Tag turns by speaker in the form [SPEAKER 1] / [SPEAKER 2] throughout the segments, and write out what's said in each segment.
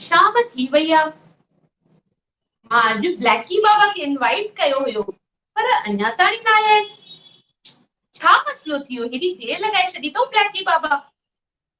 [SPEAKER 1] شام ٿي وئي آ. مان اڄ بليڪي بابا کي انوائيٽ ڪيو هيو پر اڃا تائين نه آيا آهن. ڇا مسئلو ٿي ويو هيڏي دير لڳائي ڇڏي اٿئون بليڪي بابا.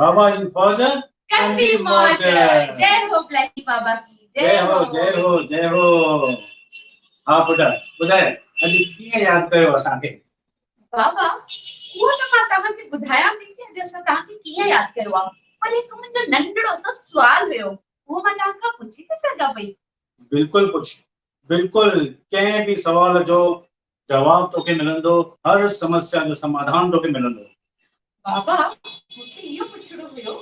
[SPEAKER 1] بابا
[SPEAKER 2] جي فوج ڪندي موج
[SPEAKER 1] جي هو بليڪي بابا جي جي هو
[SPEAKER 2] جي هو جي هو ها پٽ ٻڌاء اڄ ڪيئن ياد ڪيو اسان کي
[SPEAKER 1] بابا هو ته مان توهان کي ٻڌايان ٿي ته اڄ اسان توهان کي ڪيئن ياد ڪيو آ پر هڪ منهنجو ننڍڙو سو سوال هيو هو مان توهان کان پڇي ٿي سگهان پئي بلڪل پڇ
[SPEAKER 2] بلڪل ڪنهن به سوال جو جواب توکي ملندو، هر سمسيا جو سماڌان توکي ملندو. بابا مون کي اهو پڇڻو هيو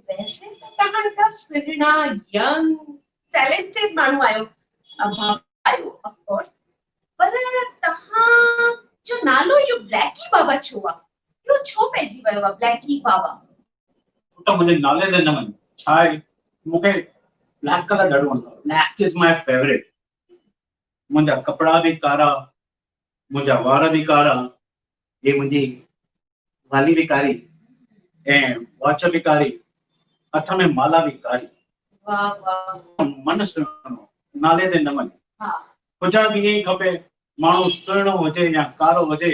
[SPEAKER 2] ته
[SPEAKER 1] ويسي ته توهان ايڏا سهڻا، ينگ، ٽيلينٽيڊ ماڻهو آهيو، بابا آهيو آف ڪورس، پر توهان جو نالو اهو بليڪي بابا ڇو آ؟ اهو ڇو پئجي ويو آ بليڪي بابا؟ پٽ
[SPEAKER 2] منهنجي نالي تي نه وڃ، ڇا آهي مون کي بليڪ ڪلر ڏاڍو وڻندو آ، بليڪ از ماء فيوريٽ، منهنجا ڪپڙا به ڪارا، منهنجا وار به ڪارا، هي منهنجي والي به ڪاري ۽ واچ به ڪاري، هٿ ۾ مالا به ڪاري.
[SPEAKER 1] من سهڻو،
[SPEAKER 2] نالي تي نمن. هجڻ
[SPEAKER 1] به ائين ئي
[SPEAKER 2] کپي، ماڻهو سهڻو هجي يا ڪارو هجي،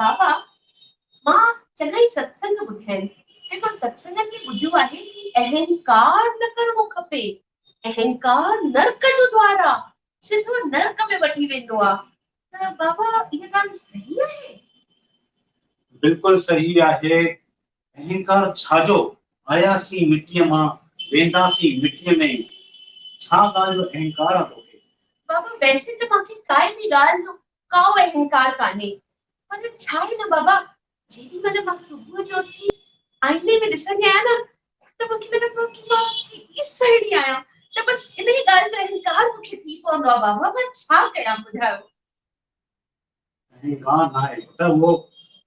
[SPEAKER 2] بابا،
[SPEAKER 1] مان چڱائي ستسنگ ٻڌيائين ۽ مان ستسنگن ۾ ٻڌيو آهي ته اهنڪار نه ڪرڻو کپي، اهنڪار نرڪ جو دوار آ، سڌو نرڪ ۾ وٺي ويندو آ، ته بابا اها ڳالهه صحيح آهي؟
[SPEAKER 2] بلڪل صحيح آهي، اهنڪار ڇا جو، آياسين مٽيء مان، وينداسين مٽيء ۾ ئي، ڇا ڳالهه جو اهنڪار آ توکي؟ بابا، ويسي ته مانکي
[SPEAKER 1] ڪائي به ڳالهه جو ڪائو به انڪار ڪانهي. پر ڇا آهي نه بابا جيڏي مهل مان صبح جو اٿي آئيني ۾ ڏسندي آهيان نه ته مون کي لڳندو آهي ته مان ڪيڏي سهڻي آهيان ته بس انهي ڳالهه جو انڪار مون کي ٿي پوندو آهي بابا مان ڇا ڪيان ٻڌايو. ڪنهن
[SPEAKER 2] ڪا ناهي پٽ اهو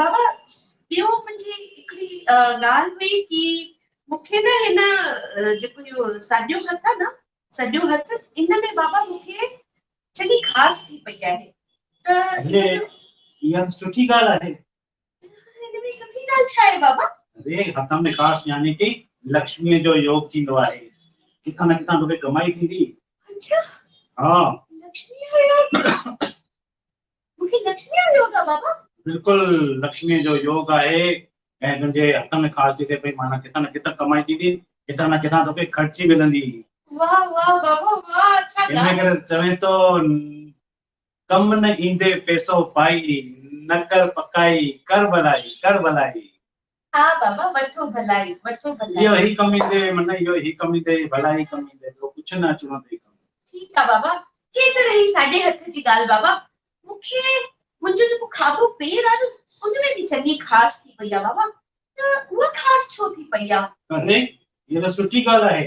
[SPEAKER 2] بابا
[SPEAKER 1] ٻيو منهنجي هڪڙي ڳالهه هئي ڪي مونکي نه هن جيڪو اهو ساڄو هٿ آ نه سڄو هٿ ان ۾ بابا مونکي چڱي خاص ٿي پئي آهي ته اها
[SPEAKER 2] سٺي ڳالهه آهي هن
[SPEAKER 1] ۾ سٺي ڳالهه ڇا آهي بابا اري هٿ ۾
[SPEAKER 2] خاص يعني ڪي لڪشمي جو يوگ ٿيندو آهي ڪٿا نه ڪٿا توکي ڪمائي ٿيندي اچھا ها لڪشمي جو يوگ مون کي لڪشميء جو يوگ آ بابا. بلڪل لڪشميء جو يوگ آهي ۽ تنهنجي هٿن ۾ خاص جيڪي پئي معنيٰ ڪٿان نه ڪٿان ڪمائي ٿيندي ڪٿان نه ڪٿان توکي خرچي ملندي. واهه واهه
[SPEAKER 1] بابا واهه اڇا ڳاهه. ان ڪري چوين ٿو
[SPEAKER 2] ڪم نه ايندي پيسو پائي نه ڪر پڪائي ڪر ڀلائي ڪر ڀلائي. ها
[SPEAKER 1] بابا وٺو ڀلائي وٺو ڀلائي. اهو هي ڪم ايندي من
[SPEAKER 2] اهو هي ڪم ايندي ڀلائي ڪم ايندي ٻيو ڪڇ نه اچڻو اٿئي ڪم. ٺيڪ آ بابا
[SPEAKER 1] هي ته رهي ساڄي هٿ جي ڳالهه بابا مون کي منهنجو جيڪو کاٻو پير آ نه ان ۾ به چڱي کاس ٿي پئي آ بابا ته اها کاس ڇو ٿي پئي آ. اري هيء ته
[SPEAKER 2] سٺي ڳالهه آهي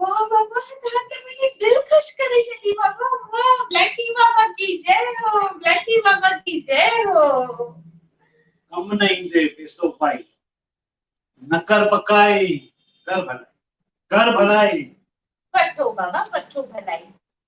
[SPEAKER 2] واھ
[SPEAKER 1] بابا توھان ته منھنجي دل خوش ڪري ڇڏي بابا واھ بليڪي بابا ڪي جئ ھو بليڪي بابا ڪي جئ ھو.
[SPEAKER 2] ڪم نه ايندي پيسو پائي نه ڪر پڪائي ڪر ڀلائي ڪر ڀلائي. وٺو
[SPEAKER 1] بابا وٺو ڀلائي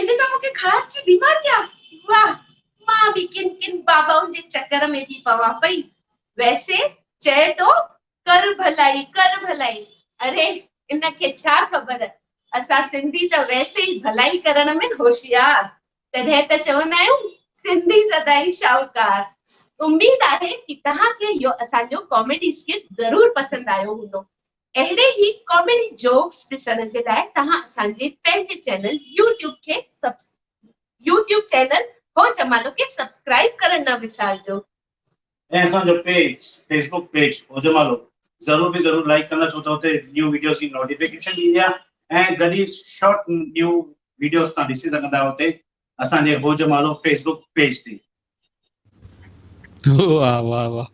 [SPEAKER 1] ان سان مون کي خاص جي بيماري آ. واه! مان به ڪن ڪن بابائن جي چڪر ۾ ٿي پوان پئي. ويسي چئي ٿو ڪر ڀلائي ڪر ڀلائي. اري ان کي ڇا خبر اسان سنڌي ته ويسي ئي ڀلائي ڪرڻ ۾ هوشيار. تڏهن ته چوندا آهيون سنڌي سدائين شاهوڪار. اميد آهي ڪي تهان کي اهو اسان جو ڪاميڊي اسڪٽ ضرور پسند آيو هوندو. اهڙي ئي ڪاميڊي جوڪس ڏسڻ جي لاء توهان اسان جي پنهنجي چينل يوٽيوب کي يوٽيوب چينل هو جمالو کي سبسڪرائيب ڪرڻ نه وسارجو. ۽ اسان
[SPEAKER 2] جو page Facebook page Ho Jamalo ضرور به ضرور لائيڪ ڪندا ڇو ته اتي نيو ويڊيوز جي نوٽيفڪيشن ايندي آهي ۽ گڏ ئي شارٽ نيو ويڊيوز توهان ڏسي سگهندا آهيو اتي اسان جي Ho Jamalo Facebook page تي واه
[SPEAKER 3] واه واه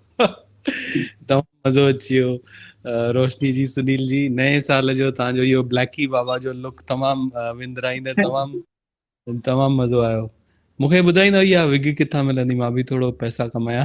[SPEAKER 3] تمام مزو اچي ويو روشني جي سنيل جي نئين سال جو تان جو يو بليڪي بابا جو لڪ تمام وندرائيندڙ تمام تمام مزو آيو مونکي ٻڌائيندا يا وگ ڪٿا ملندي مان به ٿورو پئسا ڪمايا